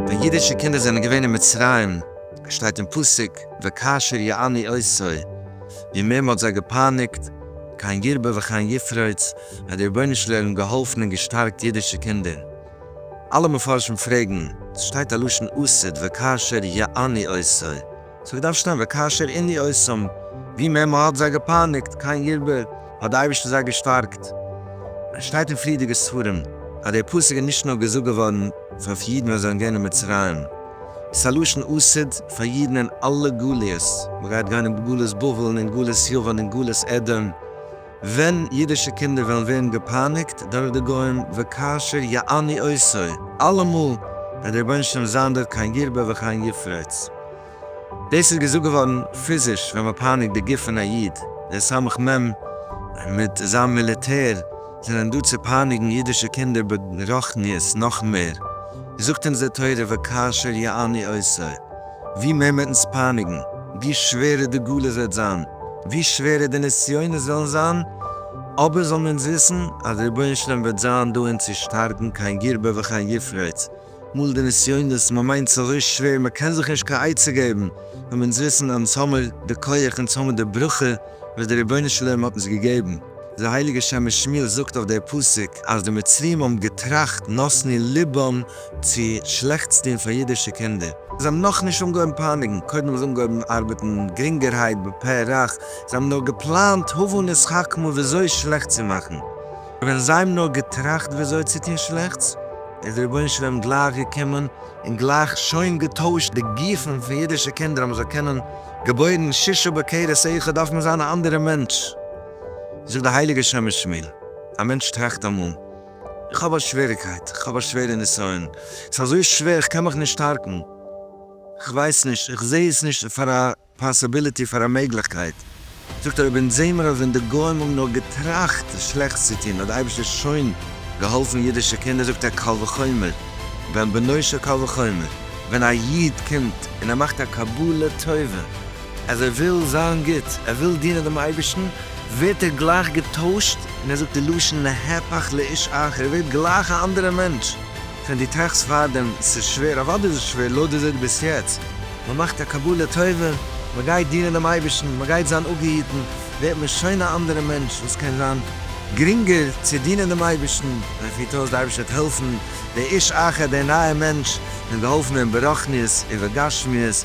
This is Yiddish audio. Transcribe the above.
ווען אידישע קינדער זענען געווען אין מצרים, שטייט אין פסוק, וכאשר יעני עשו, ווי מער מ'האט זיי געפייניגט, כן ירבה וכן יפרוץ, האט דער רבונו של עולם געהאלפן און געשטארקט אידישע קינדער. אלע מפרשים פרעגן, ס'שטייט א לשון עשית וכאשר יעני עושי, סאו געדארפט שטיין וכאשר עיני עושם, ווי מער מ'האט זיי געפייניגט קיין ירבה האט די אייבערשטער זיי געשטארקט. עס שטייט אין פריערדיגע ספרים אז דער פסוק איז נישט נאר געזאגט געווארן פאר פאר אידן ווען זיי זענען געווען אין מצרים, עס איז א לשון עשית פאר אידן אין אלע גליות, מ'גייט גיין אין גלות בבל און אין גלות יוון און גלות עדום, ווען אידישע קינדער וועלן ווערן געפייניגט דורך די גוים, וכאשר יעני עשו, אלעמאל וועט דער רבונו של עולם זיין דארט קיין ירבה וכיין יפרוץ. דאס איז געזאגט געווארן פיזיש ווען מען פייניגט די גוף פון א איד, די סמך מ מיט זיין מיליטער זענען דא צו פייניגן אידישע קינדער ברוחניות נאך מער, זאגט אונז די תורה וכאשר יעני עשו. ווי מער מ'עט אונז פייניגן, ווי שווערער די גלות וועט זיין, ווי שווערער די נסיונות וועלן זיין, אבער זאלן אונז וויסן אז דער רבונו של עולם וועט זיין דא אונז צו שטארקן קיין ירבה וכן יפרוץ, מול די נסיונות, מ'מיינט ס'איז אזוי שווער מ'קען זיך נישט קיין עצה געבן, זאלן אונז וויסן אז אונז האמיר די כח, אונז האמיר די ברכה וואס דער רבונו של עולם האט אונז געגעבן. דער הייליגער שמש שמואל זאגט אויף דער פסוק אז די מצריים האבן געטראכט נתני לבם צו שלעכטס טון פאר אידישע קינדער. זיי האבן נאכנישט אנגעהויבן פייניגן, קודם האבן זיי אנגעהויבן ארבעטן גרינגערהייט בפה רך, זיי האבן נאר געפלאנט הבה נתחכמה וויאזוי שלעכט צו מאכן, ווען זיי האבן נאר געטראכט וויאזוי צו טון שלעכטס, איז דער רבונו של עולם גלייך געקומען און גלייך שוין געטוישט די גופים פון אידישע קינדער אז מען זאל קענען געבוירן שישה בכרס אחד דארף מען זיין א אנדערע מענטש, זאגט די הייליגע שמש שמואל, א מענטש טראכט אמאל. איך האב א שוועריקייט, איך האב א שווערע נסיון, ס'איז אזוי שווער, איך קען מיך נישט שטארקן, איך ווייס נישט, איך זע עס נישט פאר א פאסיביליטי, פאר א מעגליכקייט. זאגט ער, אויב אונז זעמער אז ווען די גוים האבן נאר געטראכט שלעכטס צו טון האט די אייבערשטער שוין געהאלפן אידישע קינדער, זאגט ער, קל וחומר בן בנו של קל וחומר ווען א איד קומט און ער מאכט א קבלה טובה, אז ער וויל זיין גוט, ער וויל דינען דעם אייבערשטן, ווערט ער גלייך געטוישט, און ער זאגט די לשון להיפך לאיש אחר, ער ווערט גלייך א אנדערע מענטש, ווען דו טראכסט פארדעם, ס'איז שווער, אוודאי איז עס שווער, לויט וויאזוי דו ביסט יעצט, מען מאכט א קבלה טובה, מען גייט דינען דעם אייבערשטן, מען גייט זיין אפגעהיטן, ווערט מען שוין א אנדערע מענטש, וואס קען זיין גרינגער צו דינען דעם אייבערשטן, מען פירט אויס, דער אייבערשטער וועט העלפן, דער איש אחר, דער נייער מענטש, דעם געהאלפענעם ברוחניות ובגשמיות,